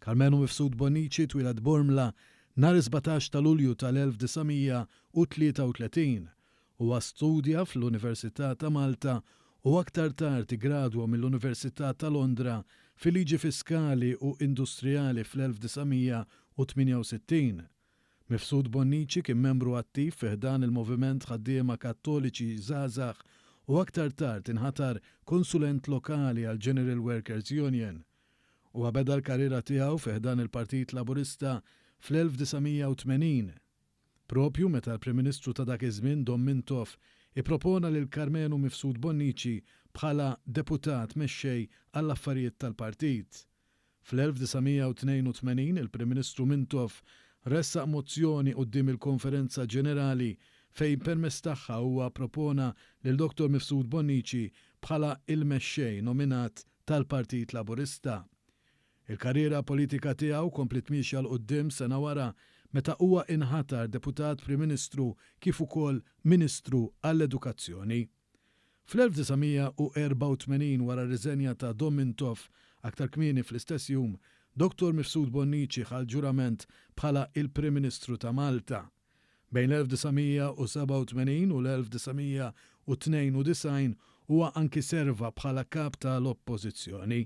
Karmenu Mifsud Bonnici twieled Bormla nhar is-sbatax ta' Lulju tal-1933. Huwa studja fl-Università ta' Malta u aktar tard iggradwa mill-Università ta' Londra fil-Liġi Fiskali u Industrijali fl-1968. Mifsud Bonnici kien membru attiv fi ħdan il-Moviment Ħaddiema Kattoliċi Żgħażagħ u aktar tard inħatar konsulent lokali għall-General Workers Union. Huwa beda l-karriera tiegħu fi ħdan il-Partit Laburista fl-1980, proprju meta l-Prim Ministru ta' dak iż-żmien Dom Mintoff ippropona lil Karmenu Mifsud Bonnici bħala Deputat Mexxej għall-Affarijiet tal-Partit. Fl-1982 il-Prim Ministru Mintoff ressaq mozzjoni quddiem il-Konferenza Ġenerali fejn permezz tagħha huwa ppropona lil Dottor Mifsud Bonnici bħala il-Mexxej nominat tal-Partit Laburista. Il-karriera politika tiegħu kompliet miexja 'l quddiem sena wara meta huwa inħatar Deputat Prim Ministru kif ukoll Ministru għall-Edukazzjoni. Fl-1984 wara r-riżenja ta' Dom Mintoff, aktar kmieni fl-istess jum, Dottor Mifsud Bonnici ħa l-ġurament bħala il-Prim Ministru ta' Malta. Bejn l-1987 u l-1992 huwa anki serva bħala Kap ta' l-Oppożizzjoni.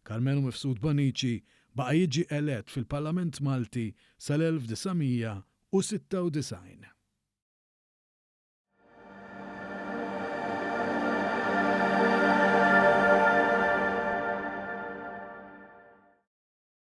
Karmenu Mifsud Bonnici baqa' jiġi elett fil-Parlament Malti sal-1996.